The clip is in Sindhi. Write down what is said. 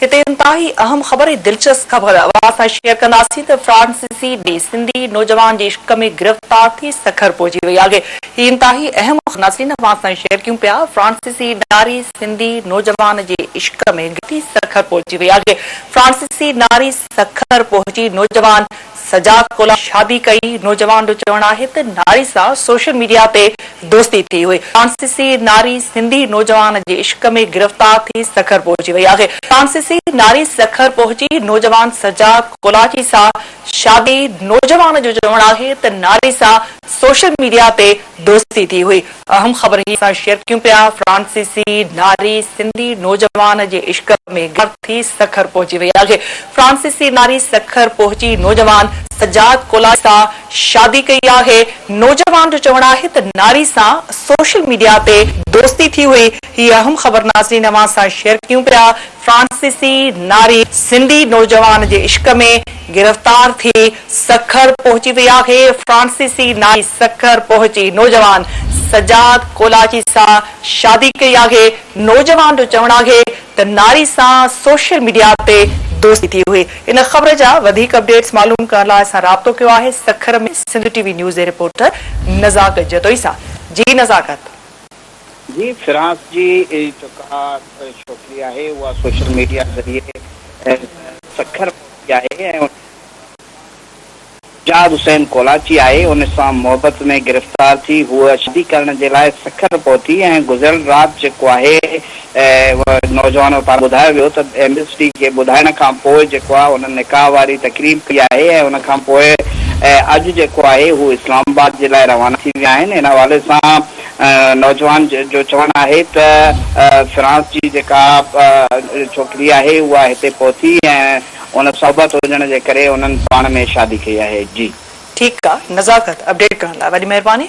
هتي انتهائي اهم خبر ۽ دلچسپ خبر اوهان سان شيئر ڪنداسين ته فرانسيسي ٻئي سنڌي نوجوان جي عشق ۾ گرفتار ٿي سکر پهچي وئي آهي هي انتهائي اهم خبر ناظرين اوهان سان شيئر ڪيون پيا فرانسيسي ناري سنڌي نوجوان جي عشق ۾ گرفتار ٿي سکر پهچي وئي آهي فرانسيسي ناري سکر پهچي نوجوان سجاد ڪولا شادي ڪئي، نوجوان جو چوڻ آهي ته ناري سان سوشل ميڊيا تي دوستي ٿي هئي، فرانسيسي ناري سنڌي نوجوان جي عشق ۾ گرفتار ٿي سکر پهچي وئي آهي، فرانسيسي ناري سکر پهچي نوجوان سجاد ڪولاچي سان شادي، نوجوان جو چوڻ آهي ته ناري سان سوشل ميڊيا تي دوستي ٿي هئي. اهم خبر هي سان شيئر ڪيون پيا، فرانسيسي ناري سنڌي نوجوان جي عشق ۾ غرق ٿي سکر پهچي وئي آهي. فرانسيسي ناري سکر پهچي نوجوان سجاد ڪولاڻي سان شادي ڪئي آهي. نوجوان جو چوڻ آهي ته ناري سان سوشل ميڊيا تي دوستي ٿي هئي. هي اهم خبر ناظرين اوهان سان شيئر ڪيون پيا، فرانسيسي ناري سنڌي نوجوان جي عشق ۾ گرفتار ٿي سکر پهچي وئي آهي فرانسيسي نائي سکر پهچي نوجوان سجاد ڪولاچي سان شادي ڪئي آهي نوجوان جو چوڻ آهي ته ناري سان سوشل ميڊيا تي دوستي ٿي هئي ان خبر جا وڌيڪ اپڊيٽس معلوم ڪرڻ لاء اسان رابطو ڪيو آهي Sukkur ۾ Sindh T V news جي رپورٽر نزاڪ جتوئي سان جي نزاڪت. جي فرانس جي جيڪا ڇوڪري آهي اها سوشل ميڊيا ذريعي سکر پهتي آهي ۽ ان جهاد حسين ڪولاچي آهي، ان سان محبت ۾ گرفتار ٿي هوء شادي ڪرڻ جي لاء سکر پهتي ۽ گذريل رات جيڪو آهي اهو نوجوان پاران ٻڌايو ويو ته ايم ايس ڊي کي ٻڌائڻ کان پوء جيڪو آهي هنن نڪاح واري تقريب ڪئي آهي ۽ ان کان پوء اڄ جيڪو آهي هو اسلام آباد جي لاء روانا ٿي ويا آهن، ان حوالي سان نوجوان جو چوڻ آهي ته فرانس جي جيڪا ڇوڪري آهي اها هتي پهتي ۽ ان صحبت هجڻ جي ڪري انهن پاڻ ۾ شادي ڪئي آهي جي. ٺيڪ آ نزاڪت اپڊيٽ ڪرڻ لاء وڏي مهرباني.